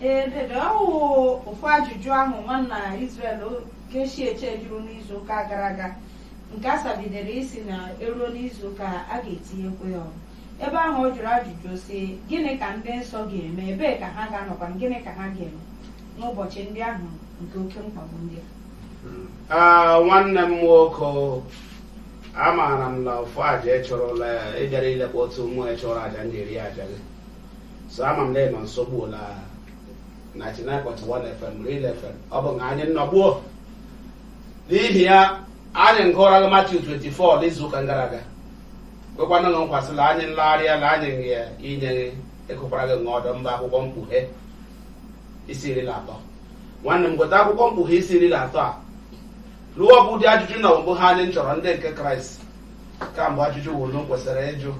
ee dede ọ wụ ofu ajụjụ ahụ nwanna Israel keshi eche jụrụ n'izu ụka gara aga nke a sabidere isi na eruo n'izu ụka a ga-etinyekwa ya ọrụ ebe ahụ ọ jụrụ ajụjụ sị gịnị ka ndị nsọ ga-eme ebee ka ha ga-anọkwa gịnị ka ha ga-eme n'ụbọchị ndị ahụ nke oke mkpagbu ndị a Ah, nwanne m nwoke amaara m na ụfụ aja ị chụrụla ya ị bịara ilekpọta ụmụ ya chụrụ aja ndị eri aja gị so ama m na ị nọ nso gbuo la 99.1 FM Real FM ọ bụ nga anyị nnọ gbuo n'ihi ya anyị ngụọra gị Matiu 24 n'izu ụka gara aga kwekwa ụnụ nkwa sị la anyị nlegharịa na anyị nye inye gị ịkụkwara gị ọdọ mba akwụkwọ mkpughe isi iri na atọ nwanne m gote akwụkwọ mkpughe isi iri na atọ a lụọ bụ ụdị ajụjụ na ọ bụ ha anyị chọrọ ndị nke kraịst kamgbe ajụjụ ụnụ kwesịrị ịjụ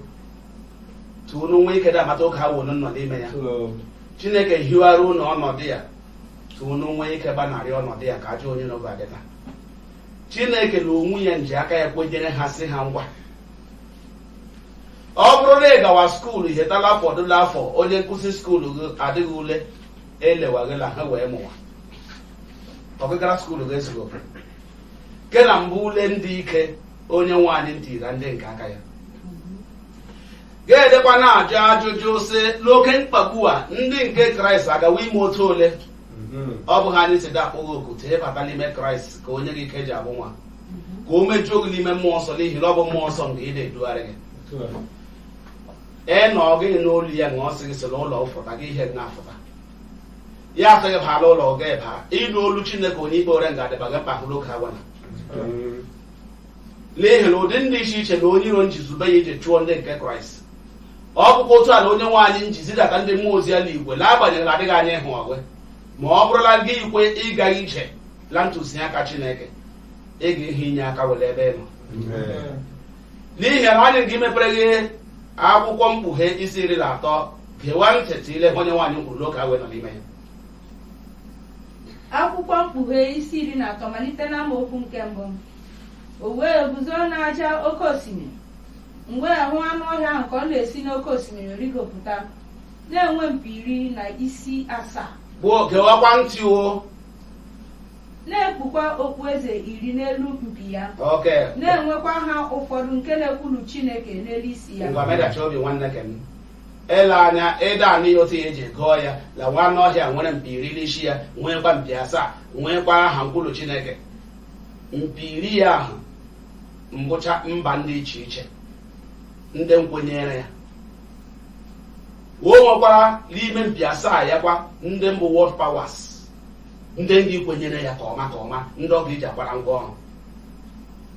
ta ụnụ nwee ike da-amata oge a ụnụ nọ n'ime ya chineke hiwara ụnụ ọnọdụ ya ta ụnụ nwee ike gbanarị ọnọdụ ya ka ajọ onye n'oge adịta chineke na onwe ya nji aka ya kwenyere ha sị ha ngwa ọ bụrụ na ị gawa skuulu hetala fọdụla afọ onye nkụzi skuulu gị adịghị ule elewaghịla ha wee mụwa ọgụgara skuulu gị ezigbo ke na mbụ ule ndị ike onye nwe anyị ntira ndị nke aka ya ga-edekwa na-ajụ ajụjụ sị n'oke mkpagbu a ndị nke kraịst agawa ime otu ole ọ bụ ihe anyị si da-akpọ gị oku ta ị bata n'ime kraịst ka o nye gị ike iji abụ nwa ka o mejuo gị n'ime mmụọ nsọ n'ihi na ọ bụ mmụọ nsọ nke ị na-edugharị gị ee na ọ gịghị n'olu ya na ọ sị gị si n'ụlọ fụta gị ihe na-afụta ya asị gị baa la ụlọ gị baa ị nụ olu chineke onye ikpe ore nga adịba gị mkpa n'oge agwana n'ihi na ụdị ndị iche iche na onye iro nji zube ya iji chụọ ndị nke kraịst ọ bụkwa otu a na onye nwe anyị nji zidata ndị mmụọ ozi ya n'igwe n'agbanyeghị na adịghị anya ịhụ ọgwe ma ọ bụrụ la gị ikwe ịga ije la ntụziaka chineke ị ga ịhụ inye aka we la ebe ị nọ n'ihi na anyị ga imepere gị akwụkwọ mkpughe isi iri na atọ gewa ntị ta ị lee ihe onye nwe anyị kwuru n'oge a we nọ n'ime ya akwụkwọ mkpughe isi iri na atọ malite n'amaokwu nke mbụ o wee guzo n'aja oke osimiri m wee hụ anụ ọhịa ahụ ka ọ na-esi n'oke osimiri rigopụta na-enwe mpi iri na isi asaa gbuo gewakwa ntị o na-ekpukwa okpueze iri n'elu mpi ya okay na-enwekwa aha ụfọdụ nke na-ekwulu chineke n'elu isi ya ngwa medachi obi nwanne ke m ele anya ịda anụ ya otu ya eji gụọ ya la nwa anụ ọhịa nwere mpi iri n'isi ya nweekwa mpi asaa nweekwa aha nkwulu chineke mpi iri ya ahụ mbụcha mba ndị iche iche ndị nkwenyere ya o nwekwara n'ime mpi asaa ya kwa ndị mbụ world powers ndị ndị kwenyere ya ka ọma ka ọma ndị ọ ga-eji akwara ngwa ọrụ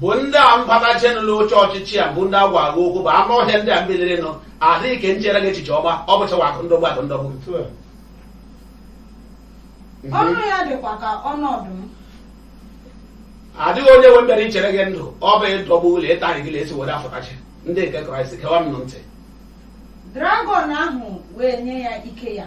bụ ndị a mbatachenụ n'oche ọchịchị a bụ ndị agwa agwa okwu bụ anụ ọhịa ndị a mbilirinụ adịghị nke nchere gị echiche ọma ọ bụchawa akụ ndọgbu akụ ndọgbu ọnụ ya dịkwa ka ọnụ ọdụm adịghị onye nwe mbere ichere gị ndụ ọ bụ ịdọgbu ụlọ ịtarị gị isi were afọtachi ndị nke kraịst gewa m nụ ntị dragọn ahụ wee nye ya ike ya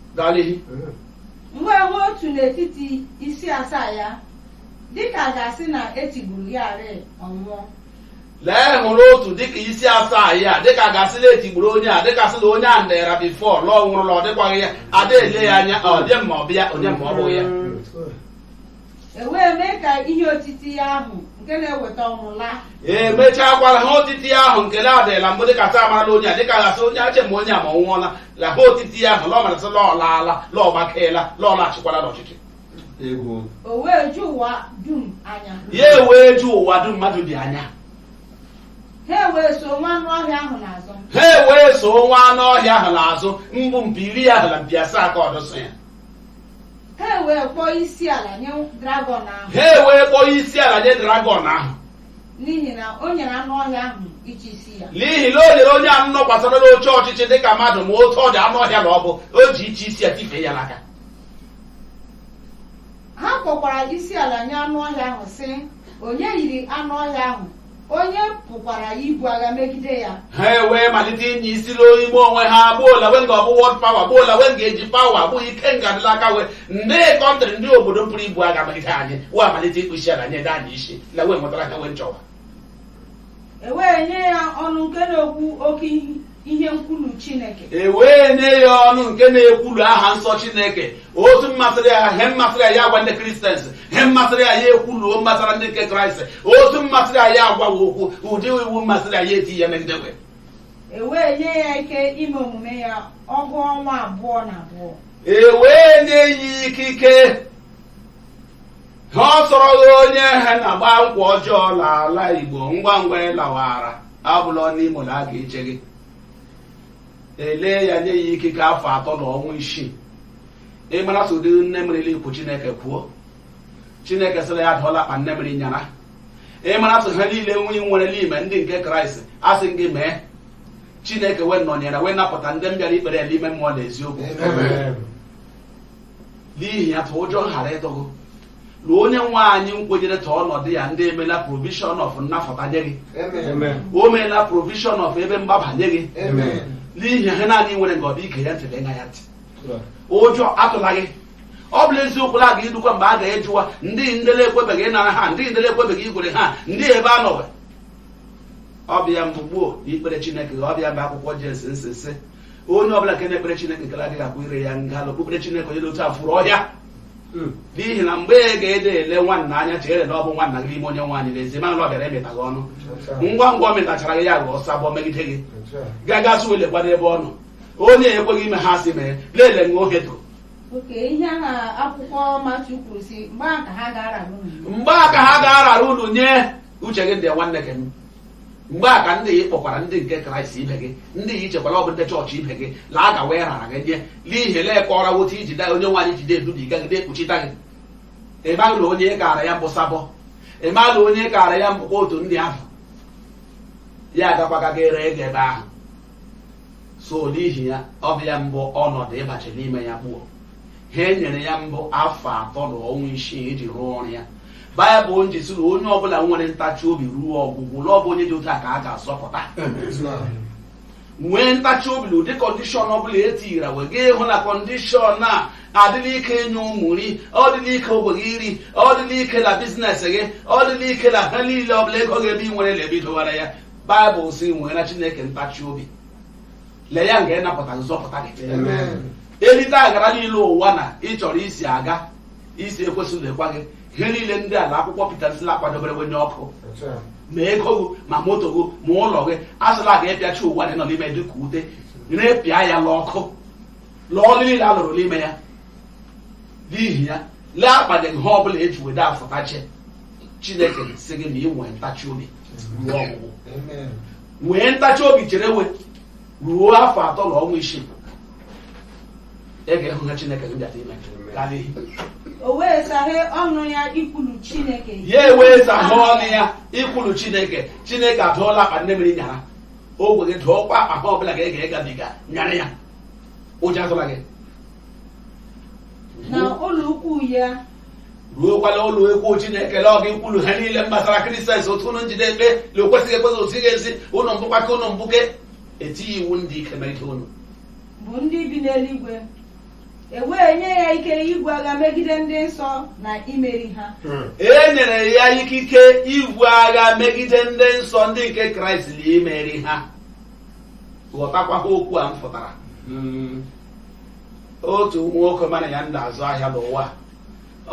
Gaa l'ihu. M wee hụ otu n'etiti isi asaa ya dịka a ga-asị na etigburu ya ruo ọnwụ lee hụrụ otu dịka isi asaa ya dịka a ga-asị la etigburu onye a dịka sị na onye a ndịra before lọ nwụrụ na ọ dịkwaghị ya ada ele ya anya ọ dị ma ọ bụ ya onye ma ọ bụghị ya E wee mee ka ihe otiti ya ahụ nke na-eweta ọnwụ laa. emechakwara he otiti ya ahụ nke na-adịla mbụ dịka taa marala onye a dịka gasị onye ache ma onye a ma ọ nwụọla la he otiti ya ahụ lọ marasị lọ laala lọ gbakeela lọ laghachikwala n'ọchịchị egwu O wee ju ụwa dum anya. ya ewee ju ụwa dum mmadụ bi anya Ha wee so nwa anụ ọhịa ahụ n'azụ. ha ewee so nwa anụ ọhịa ahụ n'azụ mbụ mpi iri ahụ na mpi asaa ka ọdụsọ ya ha ewee kpọọ isi ala nye dragọn ahụ ha ewee kpọọ isi ala nye dragọn ahụ n'ihi na o nyere anụ ọhịa ahụ ịchị isi ya n'ihi na o nyere onye ahụ nọkwasara n'oche ọchịchị dịka mmadụ ma otu ọ dị anụ ọhịa na ọ bụ o ji ịchị isi ya tifee ya n'aka ha kpọkwara isi ala nye anụ ọhịa ahụ sị onye yiri anụ ọhịa ahụ onye pụkwara ibu agha megide ya ha ewee malite ịnya isi n'ime onwe ha gbuo la we nga-abụ world power gbuo la we nga-eji power gbuo ike nga-adị l'aka we ndị country ndị obodo pụrụ ibu agha megide anyị we amalite ịkpọ isi ala nye anyị isi la we nwetara he we nchọwa ewee nye ya ọnụ nke na-ekwu oke ihe ihe nkwulu Chineke e wee nye ya ọnụ nke na-ekwulu aha nsọ Chineke otu mmasịrị ya he mmasịrị ya ya agwa ndị Christians he mmasịrị ya ya ekwuluo mmasara ndị nke Kraịst otu mmasịrị ya ya agwawa okwu ụdị iwu mmasịrị ya ya eti ya megide we e wee nye ya ike ime omume ya ọgụ ọnwa abụọ na abụọ e wee nye ya ikike ha ọ sọrọghị onye ha na-agba nkwa ọjọọ n'ala Igbo ngwa ngwa ịlawara abụla n'imo na a ga-eche gị elee ya nye ya ikike afọ atọ na ọnwa isii ịmara sị ọ dị nne mmiri ikwu chineke kwuo chineke sịrị ya dụọla akpa nne mmiri nyara ịmara sị ha niile nwere n'ime ndị nke kraịst a sị gị mee chineke wee nọnyere wee napụta ndị m bịara ikpere ya n'ime mmụọ na eziokwu n'ihi ya ta ụjọ ghara ịtụ gị na onye nwe anyị nkwenyere ta ọnọdụ ya dị emeela provision of nnafụta nye gị o meela provision of ebe mgbaba nye gị n'ihi ha naanị nwere nke ọ bụ ige ya ntị gee ya ntị ụjọ atụla gị ọ bụla eziokwu la aga idukwa mgbe a ga-ejuwa ndị ndele ekwebeghị ịnara ha ndị ndele ekwebeghị ikpere ha ndị ebe a nọwe ọbịa mgbe gboo ikpere chineke ọbịa mgbe akwụkwọ jemis nsị sị onye ọbụla nke na-ekpere chineke nke adịghị akwa ire ya nga la okpukpere chineke onye otu a furu ọhịa n'ihi na mgbe ị ga-ede ele nwanna anya chere na ọ bụ nwanna gị n'ime onye nwe anyị n'ezie mana ọ bịara emeta gị ọnụ ngwa ngwa ọ metachara gị ya ghọọ sabọ megide gị gaga sị lekwa n'ebe ọ nọ onye ekweghị ime ha a sị mee lele ṅụọ hedo oke ihe a na akwụkwọ matiu kwuru sị mgbe ahụ ka ha ga-arara unu mgbe a ka ha ga-arara unu nye uche gị ndị nwanne gị mgbe a ka ndị ị kpọkwara ndị nke kraịst ibe gị ndị ị chekwara ọ bụ ndị chọọchị ibe gị la aga wee rara gị nye n'ihi la ị kọọra wo otu iji daa onye nwe anyị ji de edubiga gị na-ekpuchita gị ịmaghị na onye ị kaara ya mbụ sabọ ịmaghị na onye ị kaara ya mbụkwa otu ndị ahụ ya agakwaga gị ree gị ebe ahụ so n'ihi ya ọ bụ ya mbụ ọnọdụ ịbachi n'ime ya gbuo ha e nyere ya mbụ afọ atọ na ọnwa isii iji rụọ ọrụ ya baịbụl ji sị na onye ọbụla nwere ntachi obi ruo ọgwụgwụ na ọ bụ onye dị otu a ka a ga-azọpụta nwee ntachi obi na ụdị kọndishọn ọbụla e tinyere wee gaa ịhụ na kọndishọn a adịla ike inye ụmụ nri ọ dịla ike ogwe gị iri ọ dịla ike na biznes gị ọ dịla ike na ha niile ọbụla ego gị ebe ị nwere na ebe i dowara ya baịbụl sị nwee na chineke ntachi obi la ya nga ịnapụta gị zọpụta gị elite agara niile ụwa na ị chọrọ isi aga isi ekwesị lekwa gị ihe niile ndị a la akwụkwọ Pita nsị la akwadobere we nye ọkụ ma ego gị ma moto gị ma ụlọ gị a sị la a ga ịpịachi ụwa na ị nọ n'ime dị ka ute repịa ya n'ọkụ la ọlụ niile a lụrụ n'ime ya n'ihi ya lee akpadaghị ha ọbụla eji wede afụtache chineke sị gị na ị nwee ntachi obi ruo ọgwụgwụ nwee ntachi obi cherewe ruo afọ atọ na ọnwa isii ị ga-ehụ ha chineke gị bịata ime gaa n'ihi o wee saghe ọnụ ya ikwulu chineke ya ewee saghe ọnụ ya ikwulu chineke chineke adụọla akpa nne mmiri nyara ogwe gị dụọkwa akpa ha ọbụla gị ga-egabiga nyara ya ụjọ atụla gị na ụlọ ikwuu ya ruokwala ụlọ ikwu chineke la ọ ga-ikwulu ha niile gbasara kristians otu ụnụ nji de ekpe la o kwesịghị ekwesị otu ị ga-esi ụnụ mbụkwa ka ụnụ mbuke etie iwu ndị ike megide ụnụ bụ ndị bi n'eluigwe e wee nye ya ike ibu agha megide ndị nsọ na imeri ha e nyere ya ikike ibu agha megide ndị nsọ ndị nke kraịst na imeri ha ghọtakwa ha okwu a mfụtara otu nwoke mụ na ya na-azụ ahịa n'ụwa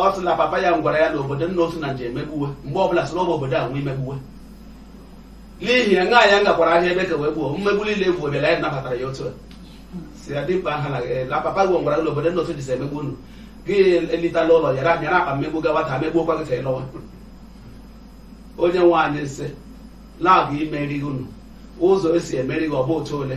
ọ sị na papa ya gwara ya na obodo nna otu na nje emegbu we mgbe ọbụla sị na ọ bụ obodo a nwe imegbu we n'ihi na ngaa ya ngakwara ahịa ebe ka wee gbuo mmegbu niile egwu bịara ya nabatara ya otu a si ya dimkpa ahụ na eh, na papa gị gwara gị na obodo nna otu dịsa emegbu unu gị elitala ụlọ yara nyara akpa mmegbu gawa taa megbuokwa gị ka ị lọwa onye nwe anyị nsị la ọ ga-imeri unu ụzọ esi emeri gị ọ bụ otu ole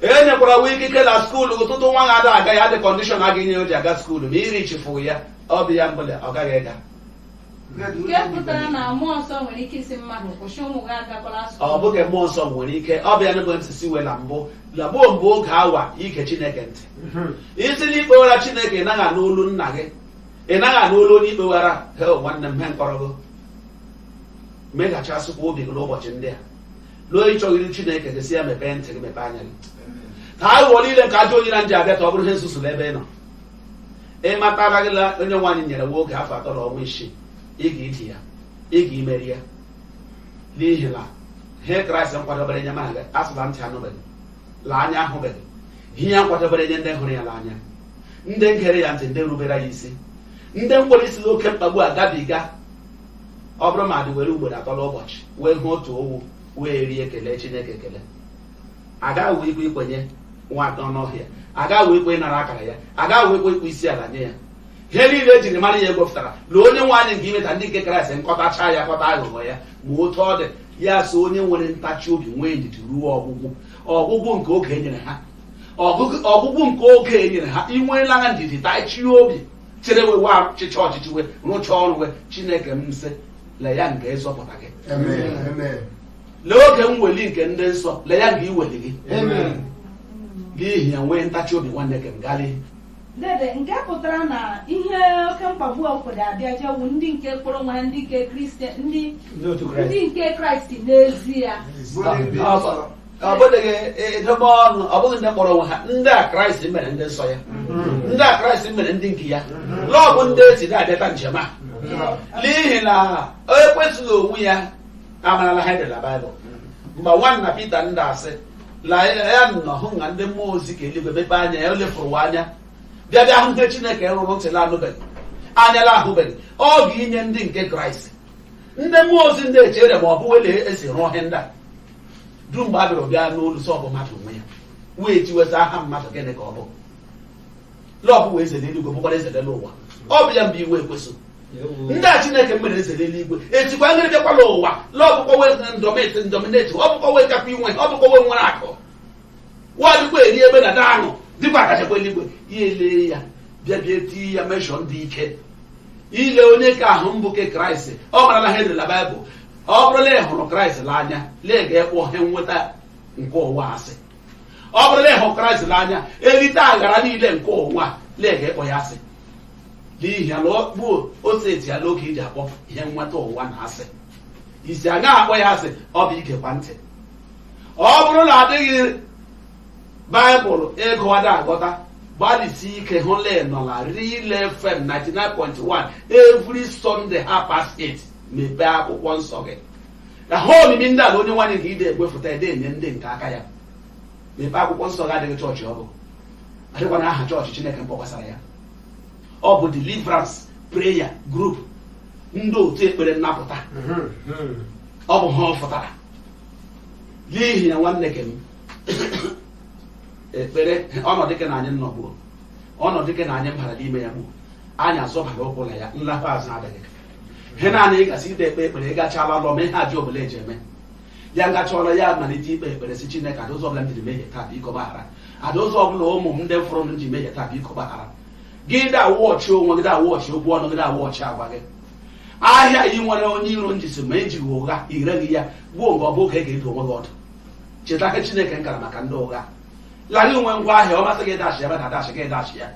e nyekwara wa ikike na skuulu ụtụtụ nwa na-ada aga ya dị kọndishọn a ga-enye o ji aga skuulu ma iri chifu ya ọ bụ ya mbụla ọ gaghị ịga nke pụtara na mmụọ nsọ nwere ike ịsị mmadụ kwụsị ụmụ gị agakwala skuul ọ bụghị mmụọ nsọ nwere ike ọ bụ ya n'ebe ntị si wee na mbụ la gbuo mbụ oge awa ige chineke ntị ị sị na ị kpewara chineke ị naghị anụ olu nna gị ị naghị anụ olu onye ị kpewara hee nwanne m he nkọrọgo meghachasịkwa obi gị n'ụbọchị ndị a lụọ ịchọghị iru chineke gị si ya mepee ntị gị mepee anya gị ka aghụghọ niile nke ajọ onye na nji abịa ka ọ bụrụ ihe nzuzu n'ebe ị nọ ị matara gị na onye nwe anyị nyere wa oge afọ atọ na ọnwa isii ị ga-idi ya ị ga-imeri ya n'ihi na ihe kraịst nkwadobere nye mụ na gị a sị la ntị anụbeghị la anya ahụbeghị ihe ya nkwadobere nye ndị hụrụ ya n'anya ndị ngere ya ntị ndị rubere ya isi ndị mkpọrọ isi n'oke mkpagbu a gabiga ọ bụrụ mmadụ were ugboro atọ n'ụbọchị wee hụ otu owu wee rie ekele chineke ekele agaghị we ikwe ikwenyewara anụ ọhịa agaghị we ikwe ịnara akara ya agaghị we ikwe ịkpọ isi ala nye ya ihe niile ejiri mara ya egwepụtara na onye nwe anyị nga imeta ndị nke kraịst nkọtacha ya kọta aghụghọ ya ma otu ọ dị ya so onye nwere ntachi obi nwee ndidi ruo ọgwụgwụ ọgwụgwụ nke oge enyere ha ọgwụgwụ nke oge enyere ha inweela ha ndidi tachie obi chere we wa chịcha ọchịchị we rụcha ọrụ we chineke nsị la ya nga ịzọpụta gị Amen. Amen. la oge mweli nke ndị nsọ la ya nga iweli gị Amen. n'ihi ya nwee ntachi obi nwanne nke m gali Dede, nke pụtara na ihe oke mkpagbu a kwere abịa jewu ndị nke kpọrọ wa ndị nke kristian ndị Ndị otu ndị Kraịst. nke kraịst n'ezie Bụ ndị nsọ. ọ bụghị edobe ọnụ ọ bụghị ndị kpọrọ onwe ha ndị a kraịst mere ndị nsọ ya ndị a kraịst mere ndị nke ya lọọ bụ ndị esi na-abịata njem a n'ihi na ekwensu onwe ya amarala ihe dị la baịbụl mgbe nwanna pita ndị asị la ya nọ hụ na ndị mmụọ ozi ka eluigwe mepe anya ya o lefụrụ anya bịa bịa hụ ihe chineke rụrụ ntị la anụbeghị anya la ahụbeghị ọ ga-inye ndị nke kraịst ndị mmụọ ozi ndị echere ma ọ bụ wele esi rụọ ihe ndị a dum mgbe a bịara ọbịa n'olu sọ bụ mmadụ onwe ya wee tiweta aha mmadụ gịnị ka ọ bụ lọọ bụ eze n'eluigwe bụkwara eze n'ụwa ọ bụ ya mbụ iwe ekwensu ndị a chineke mere eze n'eluigwe etikwa ngịrị bịakwala ụwa lọọ bụkwa wee ndọmeti ndọmineti ọ bụkwa wee kakwa inwe ọ bụkwa wee nwere akụ wa dịkwa eri ebe na daanụ dịkwa akachakwa eluigwe ya elee ya bịa bịa tii ya meshọ ndị ike ile onye ka ahụ mbụ ke kraịst ọ marala ihe dị la baịbụl ọ bụrụ na ị hụrụ kraịst n'anya la ị ga ịkpọ ihe nweta nke ụwa asị ọ bụrụ na ị hụrụ kraịst n'anya erite aghara niile nke ụwa la ị ga ịkpọ ya asị n'ihi ya na ọ bụ otu eti ya n'oge iji akpọ ihe nweta ụwa na asị isi aga akpọ ya asị ọ bụ igekwa ntị ọ bụrụ na adịghị baịbụl ị gụwa da aghọta gbalịsi ike hụ la ị nọ la real fm 99.1 every sunday half past 8 mepee akwụkwọ nsọ gị ka ihe omimi ndị a la onye nwe anyị nke ide egwefụta ede enye ndị nke aka ya mepee akwụkwọ nsọ gị adịghị chọọchị ọ bụ adịkwanụ aha chọọchị chineke mkpọkwasara ya ọ bụ deliverance prayer group ndị otu ekpere nnapụta ọ bụ ihe ọ fụtara n'ihi ya nwanne ke m ekpere ọnọdụ ke na anyị nnọ gbuo ọnọdụ ke na anyị mbara n'ime ya gbuo anyị azọbara ụkwụ na ya nlakwa azụ adịghị ihe naanị ị gasị ide ekpe ekpere ị gachala lọ ma ihe job la eji eme ya nga chi foro ya malite ikpe ekpere si chineke a dị ụzọ ọbụla m jiri mehie taa biko gbaghara a dị ụzọ ọbụla ụmụ m ndị fọrọ m ji mehie taa biko gbaghara gị da wọchị onwe gị da wọchị okwu ọnụ gị da wọchị agwa gị ahịa ị nwere onye iro njisi ma ejighị ụgha ireghị ya gbuo mgbe ọ bụ oge ị ga-adụ onwe gị ọdụ cheta ihe chineke nkara maka ndị ụgha lara inwe ngwa ahịa ọ masị gị dashi ebe na dashi gị dashi ya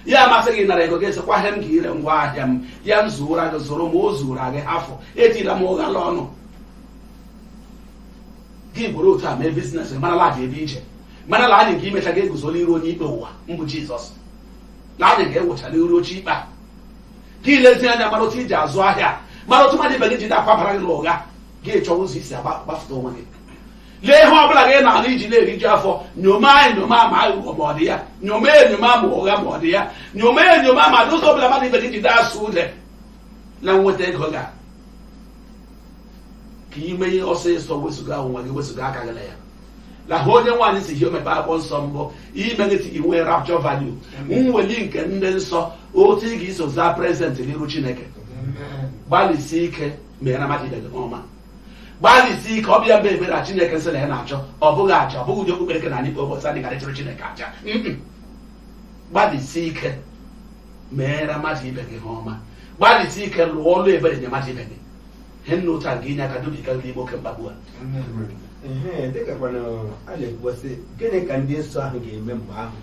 ya amasị gị nara ego gị sịkwa ihe m ga ire ngwa ahịa m ya m zuora gị zụrụ ma o zuora gị hafụ etila m ụgha la ọnụ gị gwere otu a mee business mara la aja ebe ije mara la anyị ga imecha ga eguzo la iru onye ikpe ụwa mbụ jizọs na anyị ga-ewecha la iru oche ikpe a gị lezi anya mara otu iji azụ ahịa mara otu mmadụ ibe gị ji na-akwabara gị n'ụgha gị chọwa ụzọ isi agba- gbafụta onwe gị lee ihe ọ bụla gị na-ana iji na-eriju afọ nyoma enyoma ma aghụghọ ma ọ dị ya nyoma enyoma ma ụgha ma ọ dị ya nyoma enyoma ma n'ụzọ ọ bụla mmadụ ibe gị jide asụ ude na nweta ego ga ka ime ihe ọsịsọ wezụga onwe gị wezụga aka gị na ya lahụ onye nwe anyị sị hio mepe akwụkwọ nsọ mbụ ime gị si inwe rapture value nweli nke ndị nsọ otu ị ga-eso zaa prezent n'iru chineke gbalịsie ike mere na mmadụ ibe gị ọma gbalịsi ike ọ bụ ya bụ ebere a chineke sị na ya na-achọ ọ bụghị aja ọ bụghị ụdị okpukpere ka na anyị kpe ụbọchị anyị gara chụrụ chineke aja Mm-mm. gbalịsi ike meere mmadụ ibe gị ihe ọma gbalịsi ike lụọ ọlụ ebere nye mmadụ ibe gị ihe nna otu a ga-enye aka dubiga gị n'ime oke mkpagbu a Ehe, dịkakwana a na-ekwu a sị gịnị ka ndị nsọ ahụ ga-eme mgbe ahụ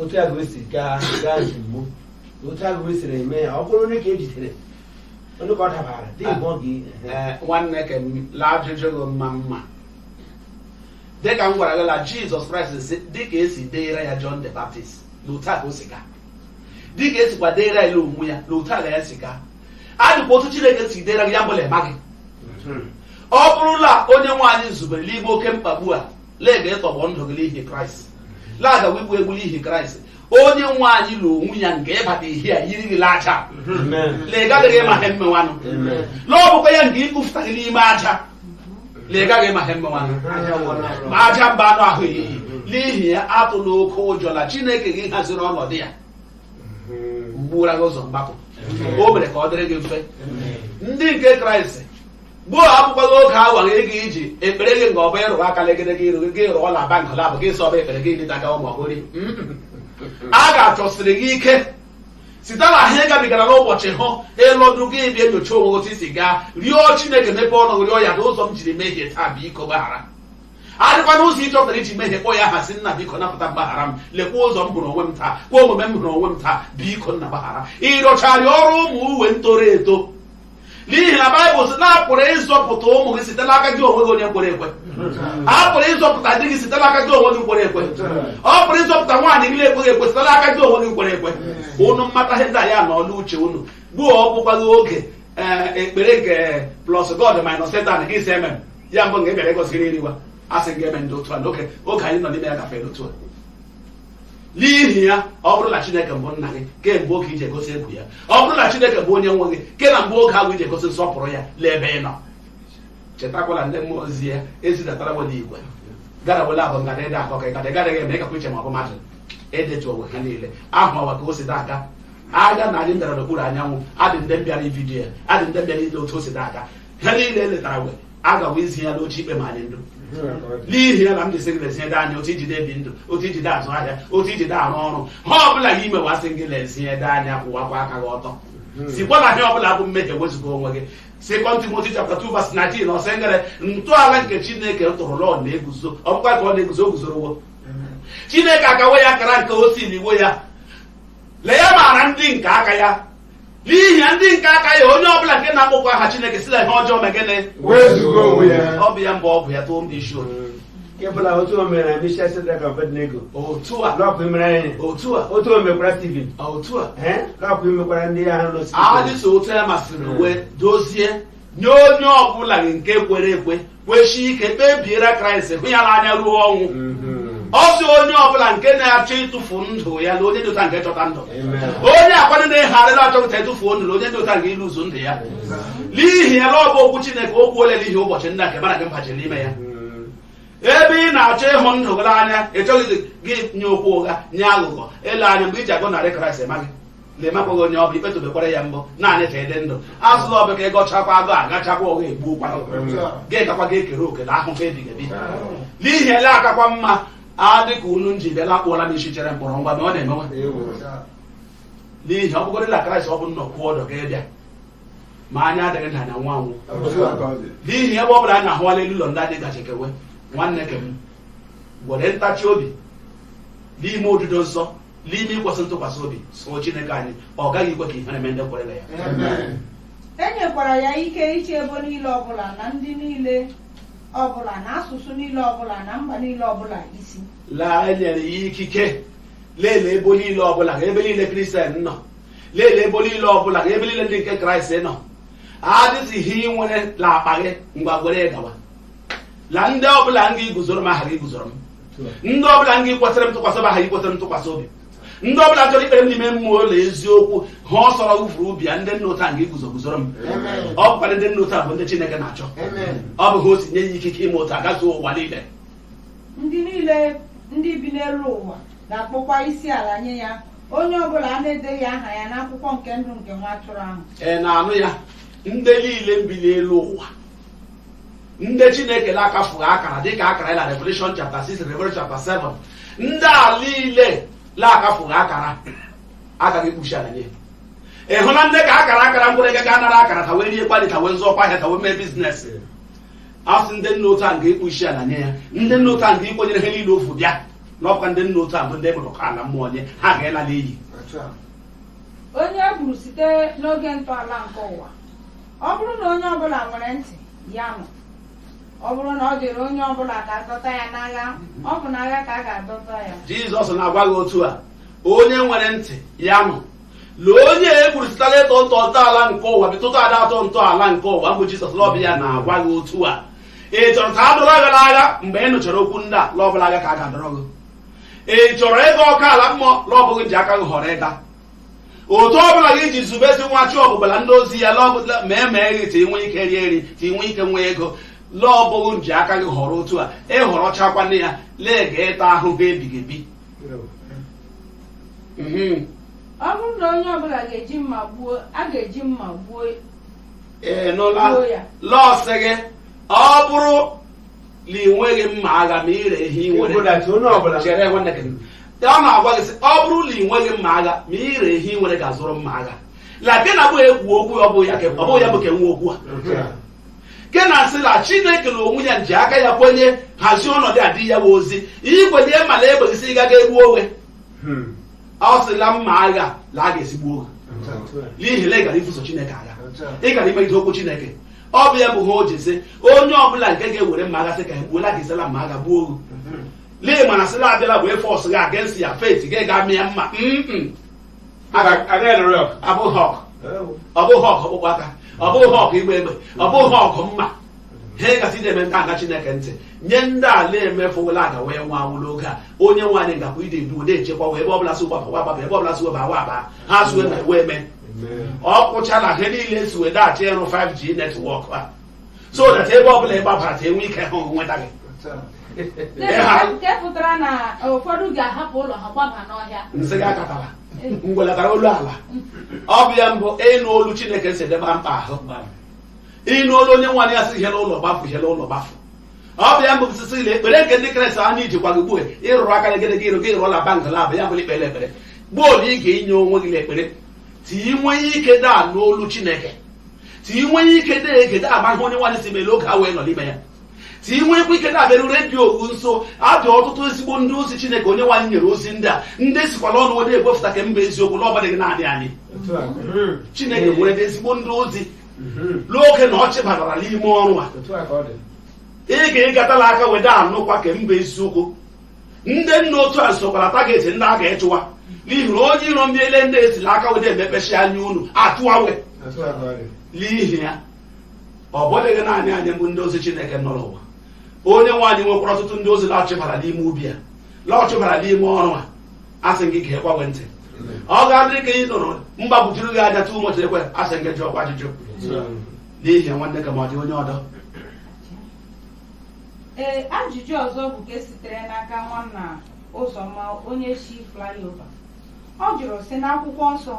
otu a ga-esi gaa gaa ozugbo otu a ga-esiri eme ya ọ bụrụ onye ka e jidere Onye ka ọ dabara dị ịbọ gị Ee, nwanne ka m laa ajụjụ gị mma mma dịka m gwara gị la jizọs kraịst si dịka esi deere ya john the baptist na otu a ka o si gaa dịka esikwa deere ya onwe ya na otu a ka ya si gaa adịkwa otu chineke si deere gị ya bụ la ịma gị ọ bụrụ la onye nwe anyị zubere n'ime oke mkpagbu a la ị ga ịtọgbọ ndụ gị n'ihi kraịst la a gawa igbu egbu n'ihi kraịst onye nwe anyị na onwe ya nke ịbata ihe a yiri gị aja na ị gaghị ịma ihe mmewanụ na ọ bụkwa ya nke ịkụfụta gị n'ime aja na ị gaghị ịma ihe mmewanụ ma aja mba anụ ahụ eyiyi n'ihi ya atụla oke ụjọ na chineke gị haziri ọnọdụ ya gbuwara gị ụzọ mgbapụ o mere ka ọ dịrị gị mfe ndị nke kraịst gbuo abụkwaghị oge awa gị ga iji ekpere gị nga ọ bụ ịrụrụ aka legide gị iru gị rụọ na bank labụ gị sọba ekpere gị dịta ka ụmụ ọhụrụ a ga-achọsiri gị ike site na ihe gabigara n'ụbọchị ahụ ịlọdụ gị bịa nyocha onwe otu i si gaa rịọ chineke mepe ọnụ gị rịọ ya na ụzọ m jiri mehie taa biko gbaghara adịkwa n'ụzọ ị chọtara i ji mehie kpọ ya aha sị nna biko napụta m gbaghara m lekwa ụzọ m hụrụ onwe m taa kwa omume m hụrụ onwe m taa biko nna gbaghara ị rịọchaa rịọrọ ụmụ uwe ntoro eto n'ihi na baịbụl sị na a pụrụ ịzọpụta ụmụ gị site n'aka gị onwe gị onye kwere ekwe a pụrụ ịzọpụta di gị site n'aka gị onwe gị kwere ekwe ọ pụrụ ịzọpụta nwaanyị gị na-ekweghị ekwe site n'aka gị onwe gị kwere ekwe unu mmata ihe ndị a ya na ọlụ uche unu gbuo ọ bụkwaghị oge ee, ekpere nke plus god minus satan gị si eme ya mbụ nga ị bịara ịgọzi nri iriwa a sị gị eme ndị otu a na oge oge anyị nọ n'ime ya gafere otu a n'ihi ya ọ bụrụ na chineke bụ nna gị kee mgbe oge i ji egosi egwu ya ọ bụrụ na chineke bụ onye nwe gị ke na mgbe oge ahụ i ji egosi nsọpụrụ ya lee ebe ị nọ chetakwala ndị mmụọ ozi ya e zidatara wela igwe gara wela abụ ngada ịda akọ ka ịgada ịgadaghị eme ịkakwa iche ma ọ bụ mmadụ edetu onwe ha niile ahụ ọwa ka o si na-aga aga na anyị bịara n'okpuru anyanwụ adị ndị mbịara ividiyo ya adị ndị mbịara ile otu o si na-aga ha niile letara wee a gawa izi ya n'oche ikpe ma anyị ndụ n'ihi ya ka m ji sị gị lezie ede anya otu i ji dị ebi ndụ otu i ji dị azụ ahịa otu i ji dị arụ ọrụ ihe ọbụla ị ga ime a sị gị lezie ede anya kwụwakwa aka gị ọtọ sikwa na ihe ọbụla bụ mmehie wezụga onwe gị sekọnd timoti chapta 2 vas 19 ọ sị ngere ntọala nke chineke tọrọ na ọ na-eguzo ọ bụkwa ka ọ na-eguzo o guzorowo chineke akawo ya akara nke ọ sị n'onwe ya na ya maara ndị nke aka ya n'ihi ya ndị nke aka ya onye ọbụla nke na-akpọkwa aha chineke si na ihe ọjọọ mee gịnị Wezuga onwe ya. ọ bụ ya mgbe ọgwụ ya tụọ ndị isi otu nke ọbụla otu o mere na Mishak Shedrak Abednego. otu a na ọ ga imere anyị. otu a Otu o mekwara Steven. otu a Eh? na ọ ga imekwara ndị ahụ nọ Steven. anyị so otu ya masịrị wee dozie nye onye ọbụla nke kwere ekwe kweshi ike kpebiere kraịst hụ ya n'anya ruo ọnwụ ọ sị onye ọbụla nke na-achọ ịtụfu ndụ ya na onye dị otu a nga ịchọta ndụ onye akwado na-egharịrị achọpụta ịtụfuo ndụ na onye dị otu a nga ịtụfu ndụ ya n'ihi ya na ọ bụ okwu chineke okwu ole n'ihi ụbọchị nna nke mana gị mbachi n'ime ya ebe ị na-achọ ịhụ ndụ gị n'anya ị chọghị gị onye okwu ụgha onye aghụghọ ele anya mgbe i ji agọnarị kraịst emaghị na ị makwaghị onye ọ bụ ikpe tobekwara ya mbụ naanị ka ị dị ndụ a sị na ọ bụ ka ị gọchakwa agọ aghachakwa ụgha egbuokwa gị gakwa ga ekere oke na ahụhụ ebighị ebi n'ihi ya na ọ kakwa mma adị ka unu nji bịala akpụọla m isi chere mkpọrọ ngwa na ọ na-emewe n'ihi ọ bụgoro na kraịst ọ bụ nnọọ kwuo ọdọ ga-abịa ma anya adịghị na anya nwa anwụ n'ihi ebe ọ bụla anyị na-ahụwala elu ụlọ ndị anyị gaje kewe nwanne ke m gwere ntachi obi n'ime odudo nsọ n'ime ikwesị ntụkwasị obi soo Chineke anyị ọ gaghị ikwe ka ihere mee ndị kwere na ya Amen. e nyekwara ya ike ịchị ebo niile ọbụla na ndị niile ọbụla na asụsụ niile ọbụla na mba niile ọbụla ọ sị na e nyere ya ikike lelee ebo niile ọbụla ga ebe niile kristian nọ lelee ebo niile ọbụla ga ebe niile ndị nke kraịst nọ adịghị ihe ị nwere n'akpa gị ngwa gwere gawa la ndị ọbụla nga iguzoro m ha ga iguzoro m ndị ọbụla nga ikwesịrị m ntụkwasị obi ha ga ikwesịrị m ntụkwasị obi ndị ọbụla chọrọ ikpere m n'ime mmụọ na eziokwu ihe ọ sọrọ o vuru bịa ndị nọ otu a nga iguzo guzoro m ọ bụkwa ndị nọ otu a bụ ndị chineke na-achọ ọ bụ ihe o si nye ya ikike ime otu a gazuo ụwa niile ndị niile ndị bi n'elu ụwa ga-akpọkwa isi ala nye ya onye ọbụla a na-edeghị aha ya n'akwụkwọ nke ndụ nke nwa atụrụ ahụ ị na-anụ ya ndị niile bi n'elu ụwa ndị chineke na-akafughị akara dịka akara na revelation chapter 6 revelation chapter 7 ndị a niile na-akafughị akara ha ga ịkpọ isi ala nye ya ị hụ na ndị a kara akara mkpụrụ ego ga-anara akara ka wee rie kwa nri ka wee zụọ kwa ahịa ka wee mee biznes a sị ndị nọ otu a nga ịkpọ isi ala nye ya ndị nọ otu a nga ikwenyere ihe niile o vu bịa na ọ bụkwa ndị nọ otu a bụ ndị ọkụ ala mmụọ nwe ha ga-ala n'iyi onye e gburu site n'oge ntọala nke ụwa ọ bụrụ na onye ọbụla nwere ntị ya nụ ọ bụrụ na ọ dịrị onye ọbụla ka a dọta ya n'agha ọ bụ n'agha ka a ga-adọta ya jizọs na-agwa gị otu a onye nwere ntị ya nụ lee onye e gburu site la ịtọ ntọ ntọala nke ụwa bitụta ada atọ ntọala nke ụwa mbụ jizọs l'ọ bụ ya na-agwa gị otu a ị chọrọ ka a dọrọ gị n'agha mgbe ị nụchara okwu ndị a l'ọ bụ l'agha ka a ga-adọrọ gị ị chọrọ ịga ọkụ ala mmụọ l'ọ bụ gị ji aka gị họrọ ịga otu ọ bụla gị ji zubezi nwa chi ọbụbọ la ndị ozi ya l'ọ ma emee gị t'i nwee ike rie nri t'i nwee ike nwee ego l'ọ bụ gị nji aka gị họrọ otu a ị họrọchakwana ya l'ị ga ịta ahụhụ ebighị ebi Mhm. ọ bụrụ na onye ọbụla ga-eji mma gbuo a ga-eji mma gbuo ị nụla Gbuo ya. l'ọ sị gị ọ bụrụ na ị nweghị mma agha ma ire ihe ị nwere Ịbụdachi onye ọbụla chere nwanne gị ka ọ na-agwa gị sị ọ bụrụ na ị nweghị mma agha ma ire ihe ị nwere gaa zụrụ mma agha la ke na bụ ekwu okwu ọ bụ ya ka- ọ bụ ya bụ ke nwe okwu a Otu a. ke na-asị la chineke na onwe ya ji aka ya kwenye hazie ọnọdụ a dị ya wa ozi i kwenye ma na egbe gị sị gaga egbu onwe Hmm. ọ si la mma agha la a ga-esi gbuo gị Otu a. n'ihi na ị gara ibuso chineke agha Otu a. ị gara imegide okwu chineke ọ bụ ya bụ ha o ji sị onye ọbụla nke ga-ewere mma agha sị ka e gbuo la gị si la mma agha gbuo gị lee mana sịla abịala wee force gị against your faith gị ga mịa mma mm ọ bụghị okwu ọ bụghị okwu ọkpụkpụ aka ọ bụghị okwu ịgba egbe ọ bụghị okwu mma ha gasị na-eme ndị aga chineke ntị nye ndị ala emefụwela aga wee nwa anwụ n'oge a onye nwe anyị gakwa ịdị edu na-echekwa we ebe ọbụla si gbaba gbaba ebe ọbụla si weba awa aba ha sụwe ma ewe eme ọ kwụchala ihe niile si wee daghachi ịrụ 5G netwọk a so that ebe ọbụla ị gbabara ka e nwee ike hụ nweta gị nke pụtara na ụfọdụ ga-ahapụ ụlọ ha gbaba n'ọhịa m sị gị akatala ngwelatara olu ala ọ bụ ya mbụ ịnụ olu chineke si dịba mkpa ahụ ịnụ olu onye nwe anyị ya sị ihe n'ụlọ gbapụ ihe n'ụlọ gbapụ ọ bụ ya bụ osisi ile ekpere nke ndị kraịst a na-iji kwago ugbu a ịrụrụ aka gị gị ịrụ gị ịrụ ọla bunker la bụ ya bụ la ikpere ekpere gboo na ị ga-enye onwe gị n'ekpere t'i nwee ike dị anụ olu chineke t'i nwee ike dị ege dị ama ihe onye nwe anyị sị mee l'oge a wee nọ n'ime ya t'i nweekwa ike na-abịaru redio ogu nso a dị ọtụtụ ezigbo ndị ozi chineke onye nwe anyị nyere ozi ndị a ndị sikwa l'ọnụ we dị ekwupụta ke mbụ eziokwu na ọ bụdịghị naanị anyị chineke nwere ezigbo ndị ozi n'oge na ọ chịbatara n'ime ọrụ a otu a ka ọ dị ị ga ịgata l'aka we dị anụkwa ke mbụ eziokwu ndị nna otu a sokwa la target ndị a ga ịchụwa n'ihi na onye iro mbiele ndị e si l'aka we dị emepesi anya unu achụwa we otu a ka ọ dị n'ihi ya ọ bụdịghị naanị anyị bụ ndị ozi chineke nọ n'ụwa onye nwe anyị nwekwara ọtụtụ ndị ozi la ọ chịbara n'ime ubi a la ọ chịbara n'ime ọrụ a asị gị gee gbanwe ntị ọ ga-adịrị ka ị nụrụ mgbagwujuru gị anya tụ ụbọchị ekwe asị gị jụọ kwa ajụjụ n'ihi ya nwanne ke m ọ dị onye ọdọ ee ajụjụ ọzọ bụ nke sitere n'aka nwanna ụzọma onye si flyover ọ jụrụ sị n'akwụkwọ nsọ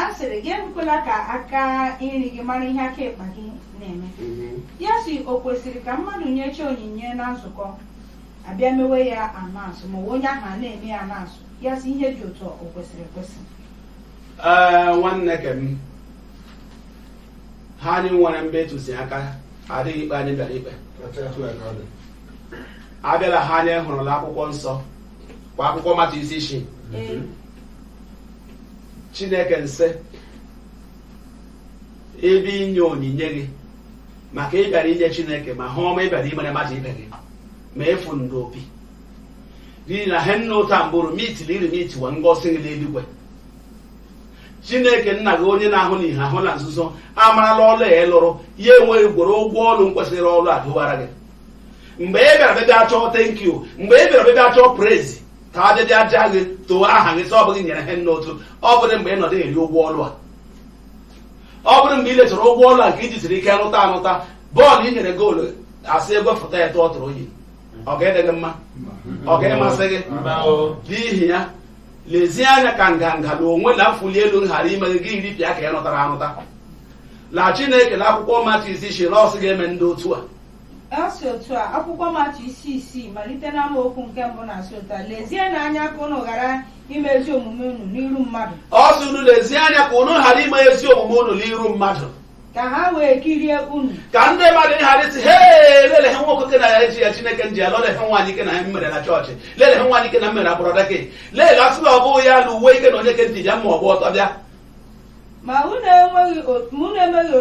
a sịrị gị ekwela ka aka nri gị mara ihe aka ịkpa gị na-eme ya sị o kwesịrị ka mmadụ nyecha onyinye na nzukọ a bịa mewe ya announce ma onye ahụ a na-eme ya announce ya sị ihe dị otu o kwesịrị ekwesị ee nwanne ke m ha anyị nwere mbụ ntụziaka adịghị ikpe anyị bịara ikpe abịala ha anyị hụrụ la akwụkwọ nsọ kwa akwụkwọ matiu isi isii chineke nsị ebe ị nye onyinye gị maka ị bịara inye chineke ma he ọma ị bịara imere mmadụ ibe gị ma afụnda opi n'ihi na he nna otu a mbụrụ mitili iri mitiwa ngọzi gị n'eluigwe chineke nna gị onye na-ahụ n'ihe ahụ na nzuzo amarala ọlụ ya lụrụ ya ewere gwere ụgwọ ọlụ nkwesịrị ọlụ a dọwara gị mgbe ị bịara bịbịa chọọ thank you mgbe ị bịara bịbịa chọọ praise ka a bịbịa jaa gị too aha gị sị ọ bụ gị nyere he nna otu ọ bụrụ mgbe ị nọdụ eri ụgwọ ọlụ a ọ bụrụ mgbe ị lechara ụgwọ ọlụ a nke i ji siri ike rụta arụta bọọlụ i nyere goolu a sị egwefuta ya tụọ throw in ọ ga-adị gị mma ọ ga-emasị gị n'ihi ya lezie anya ka nganga na onwe na mfuli elu ghara ime gị gị iripịa ka ị rụtara arụta na chineke na akwụkwọ matiu isi isii nọ sị gị emenda otu a ọ sị otu a akwụkwọ matiu isi isii malite n'amaokwu nke mbụ na-asị otu a lezienụ anya ka unu ghara ime ezi omume unu n'iru mmadụ ọ sị unu lezie anya ka unu ghara ime ezi omume unu n'iru mmadụ ka ha wee kirie unu ka ndị mmadụ ghara ịsị hee lele he nwoke ke na eji ya chineke nji ya lụọ lee he nwaanyị ke na mmere na chọọchị lele he nwaanyị ke na mmere brother ke lele a sị na ọ bụghị ya na uwe ke na onye ke ntị ya ma ọ gba ọtọ bịa ma unu emeghị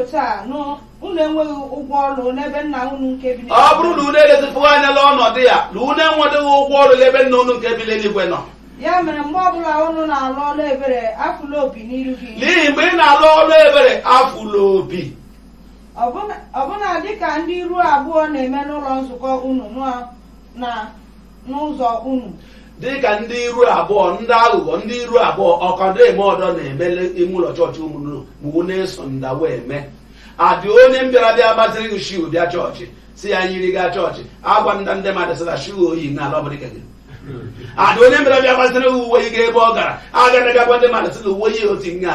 otu a nụ unu enweghị ụgwọ ọrụ n'ebe nna unu nke bi ọ bụrụ na unu elezipụghị anya la ọnọdụ ya na unu enwedịghị ụgwọ ọrụ n'ebe nna unu nke bi n'eluigwe nọ ya mere mgbe ọbụla unu na-alụ ọrụ ebere afụla opi n'iru gị n'ihi mgbe ị na-alụ ọrụ ebere afụla opi ọbụna dịka ndị iru abụọ na-eme n'ụlọ nzukọ unu na na n'ụzọ unu dịka ndị iru abụọ ndị aghụghọ ndị iru abụọ okwu ọdọ eme ọdọ na-eme la ime ụlọ chọọchị ụmụnne m unu esonda wee mee adị onye m bịara bịa gbaziri gị shoe bịa chọọchị sị ya yiri gaa chọọchị agwanda ndị mmadụ sị na shoe o yi na la ọ bụdị ke gị adị onye m bịara bịa gbaziri gị uwe gị ebe ọ gara aga na gị agwa ndị mmadụ sị na uwe ya o ti nga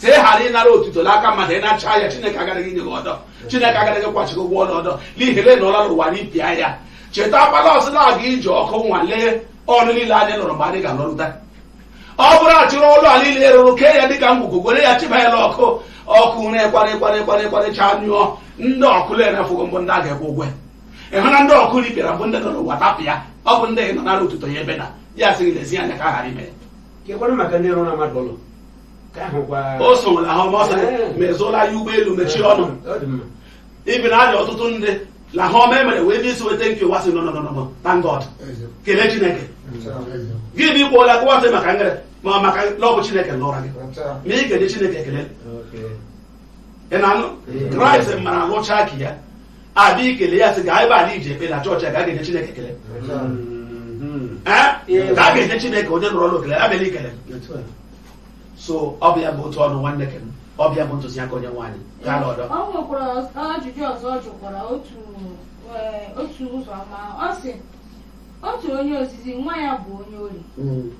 ka ị ghara ịnara otuto n'aka mmadụ ị nachaa ya chineke agaghị nye gị ọdọ chineke agaghị kwachị gị ụgwọ ọrụ ọdọ n'ihi na ị nọla n'ụwa napịa ya chetakwa la ọ sị na a ga-eji ọkụ nwalee ọrụ niile anyị lụrụ mgbe anyị ga-alụrụta ọ bụrụ a chịrị ọlụ a niile rụrụ kee ya dịka ngwugwu were ya chịba ya n'ọkụ ọkụ na-ekwarị kwarị kwarị kwarị chaa nyụọ ndị ọkụ na-erefughị mbụ ndị a ga-akwụ ụgwọ ya. ị hụ na ndị ọkụ repịara mbụ ndị nọ n'ụwa tapụ ya ọ bụ ndị nọ nara otuto ya ebe na ya sị gị lezie anya ka a ghara ime ya Kekwanụ maka ndị rụrụla mmadụ ụlọ Ka ahụ gwa o so nwere ahụ ọma ọsọ ma a zụọla ya ụgbọelu mechie ọnụ ọ dị mma ibi na adị ọtụtụ ndị na ihe ọma e mere wee bịa isi weta nke ụwa si nọnọnọnọ thank God kelee Chineke gị bụ ikwu ola kụwa sị maka ngere ma maka na ọ bụ Chineke lụra gị ma ị ga-enye Chineke ekele ị na-anụ kraịst mara lụchaa aka ya abịa ikele ya sị ga ebe a la-eji ekpe na chọọchị a ga ga-enye Chineke ekele ee ka a ga-enye Chineke onye nọrọ n'okele abịala ikele so ọ bụ ya bụ otu ọ nọ nwanne ke m ọ bụ ya bụ ntụziaka onye nwaanyị gaa n'ọdọ ọ nwekwara ajụjụ ọzọ ọ jụkwara otu ee, otu ụzọ ọma ọ sị otu onye ozizi nwa ya bụ onye ohi Mm.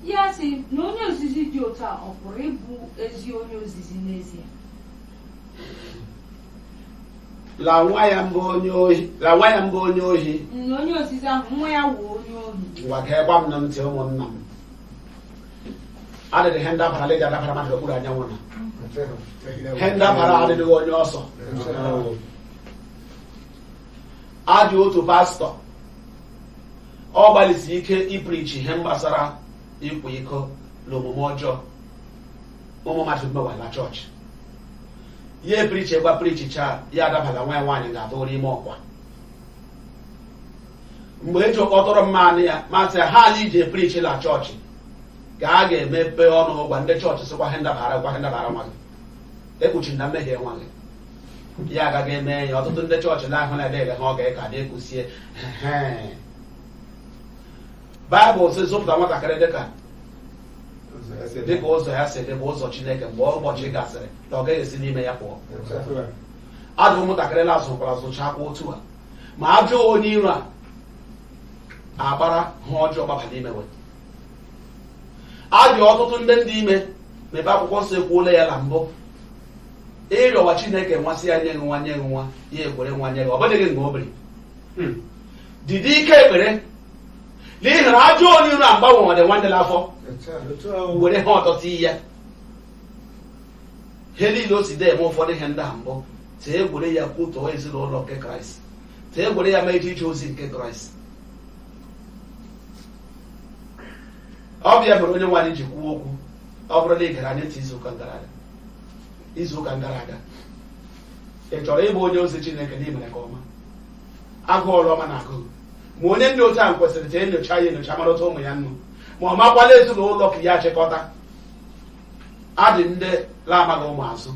ya sị na onye ozizi dị otu a ọ pụrụ ịbụ ezi onye ozizi n'ezie la nwa ya mbụ onye ohi na onye ozizi ahụ nwa ya wụ onye ohi ngwa gewa m nụ ntị ụmụnna m adịghị ihe ndabara la-eji adabara mmadụ okpuru anyanwụ na ihe ndabara adịghị onye ọ sọ a dị otu pastọ ọ gbalịsi ike iprichi ihe gbasara ịkwa iko na omume ọjọọ ụmụ mmadụ mewala chọọchị ya eprichi egwa prichicha ya adabala nwa ya nwaanyị gaa tụrụ ime ọkwa mgbe e ji kpọtụrụ m m anụ ya m asị ihe a la-eji eprichi na chọọchị ka a ga-emepe ọnụ gwa ndị chọọchị sịkwa ihe ndabara nwa gị ekpuchila mmehie nwa gị ya agaghị eme ya ọtụtụ ndị chọọchị na-ahụ na ede ha ọ ga-aka dị ekwusie baịbụl sị zụpụta nwatakịrị dịka dịka ụzọ ya si dị bụ ụzọ chineke mgbe ụbọchị gasịrị na ọ gaghị esi n'ime ya pụọ a dị ụmụntakịrị na a zụkwara zụchakwa otu a ma ajọ onye iro a agbara ihe ọjọọ gbaba n'ime we a dị ọtụtụ ndị dị ime ma ebe akwụkwọ nsọ ekwuola ya na mbụ ị rịọwa chineke nwa sị ya nye gị nwa nye gị nwa ya ekwere nwa nye gị ọ bụdịghị nke obere hmm. dịdị ike ekpere n'ihi na ajọ onye iro agbanwe ọ dị nwaanyị n'afọ were ihe ọjọọ tiye ihe niile o si dee eme ụfọdụ ihe ndị a mbụ tee egwere ya kwutọọ ezinụlọ nke kraịst tee egwere ya ma eji ije ozi nke kraịst ọ bụ ya mere onyenwe anyị ji kwuo okwu ọ bụrụ na ị gere anyị ntị izuụka gara aga ị chọrọ ịbụ onye ozi chineke na i mere nke ọma agụụ ọrụ ọma na-agụ gị ma onye dị otu ahụ kwesịrị ka enyocha ya enyocha marụta ụmụ ya nnu ma ọ makwala ezinụlọ aka ya achịkọta adị ndị na-amaghị ụmụ azụ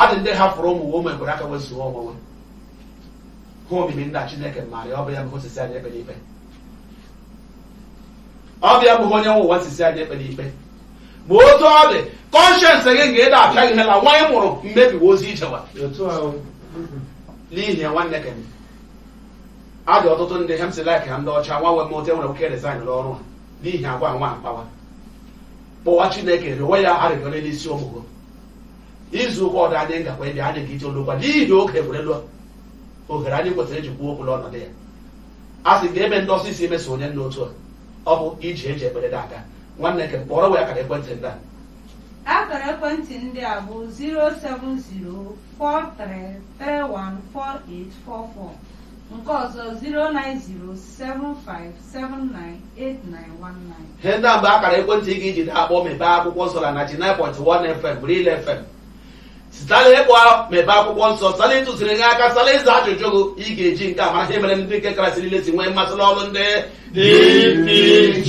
adị ndị hapụrụ ụmụ ụmụ ekwere aka wezuo onwe ha omimi ndị a chineke maara ya ọ bụ ya bụ o si sị anyị ekpele ikpe ọ bụ ya bụ onye nwe ụwa o si sị anyị ekpele ikpe ma otu ọ dị kọnshens gị nga ịda apịa gị hela nwa ị mụrụ mmebiwa ozi ị jewa n'ihi ya nwanne ke a dị ọtụtụ ndị he m si laik ha ndị ọcha nwanne m otu e nwere ike resign n'ọrụ a n'ihi agwa nwa akpawa kpọwa chineke rịọwa ya arịrịọ n'elu isi ụmụ gị izu ụka ọdọ anyị ngakwa ịbịa anyị ga-eji olokwa n'ihi oge egwerela ohere anyị kwesịrị iji kwuo okwu n'ọnọdụ ya a sị ga-eme ndị ọsọ isi emeso onye dị otu a ọ bụ iji eji ekpere dị aka nwanne ke kpọrọ wee akara ekwentị ndị a Akara ekwentị ndị a bụ 07043314844 nke ọzọ 09075 798919. ihe ndị a mbụ akara ekwentị ị ga-eji daa akpọ mebe akwụkwọ nsọ na 99.1 fm real fm sita la ịkpọ mebe akwụkwọ nsọ sala ịtụziri gị aka sala ịza ajụjụ gị ị ga-eji nke a mara ihe mere ndị nke kraịst niile si nwee mmasị n'ọrụ ndị DPG.